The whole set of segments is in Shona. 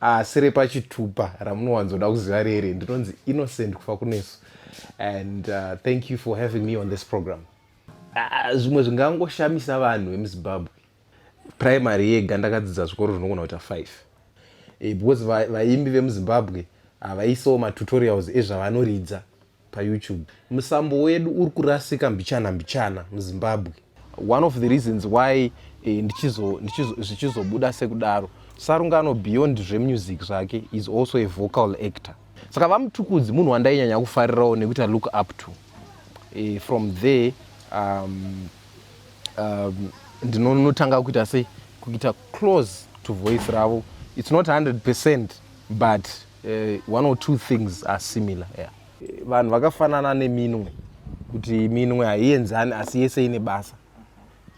asi ah, repachitupa ramunowanzoda kuziva rere ndinonzi innocent kufa kunesu and uh, thank you for having me on this program ah, zvimwe uh, zvingangoshamisa vanhu vemuzimbabwe primary yega ndakadzidza zvikoro zvinogona kuita five eh, because vaimbi vemuzimbabwe havaisawo matutorials ezvavanoridza payoutube musambo wedu uri kurasika mbichana mbichana muzimbabwe one of the reasons why eh, zvichizobuda sekudaro sarungano beyond zvemusic zvake is also a vocal actor saka vamutukudzi munhu wandainyanya kufarirawo nekuti i look up to eh, from there um, um, ndinonotanga kuita sei kuita close to voice ravo it's not 100 percent but Uh, one or two things are similar yeah. Eh, vanhu vakafanana neminwe kuti minwe haienzani asi yese ine basa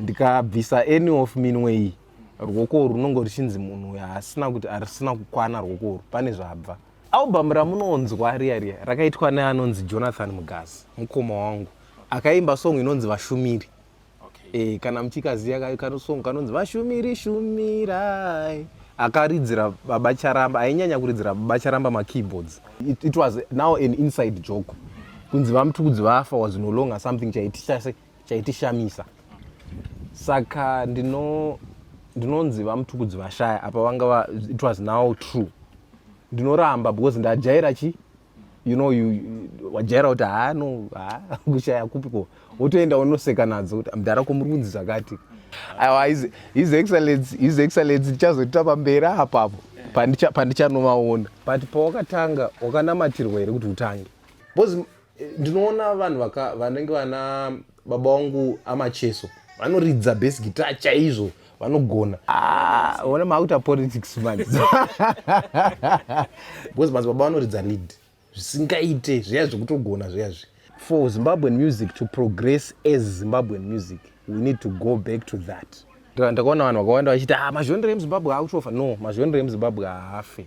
ndikabvisa any of minwe iyi ruoko urwu runonge ruchinzi munhu uyo haasina kuti harisina kukwana ruoko urwu pane zvabva album ramunonzwa riya riya rakaitwa neanonzi jonathan mugazi mukoma wangu akaimba song inonzi vashumiri okay. e, kana muchikaziya kanosong kanonzi vashumiri shumirai akaridzira baba charamba ainyanya kuridzira baba charamba makeyboards it, it was now an inside joke kunzi vamutukudzi vafa was no longer something chaitishamisa saka ndino ndinonzi vamutukudzi vashaya apa vanga va, it was now true ndinoramba because ndajaira chi you know you wajaira kuti haa no haa kushaya kupi ko wotoenda wonoseka nadzo kuti mdhara ko muri kunzi zvakati aiwa his excellence his excellence ndichazoita pamberi apapo pandichanovaona but pawakatanga wakanamatirwa here kuti utange bcause eh, ndinoona vanhu vanenge vana baba wangu amacheso vanoridza base guitar chaizvo vanogona ah, ona maakuita politics manje because madzibaba vanoridza lead zvisingaite zviya zvekutogona zviya zvi for zimbabwean music to progress as zimbabwean music we need to go back to that ndakaona vanhu vakawanda vachiti ah, mazhonere emuzimbabwe akutofa no mazhonere emuzimbabwe haafe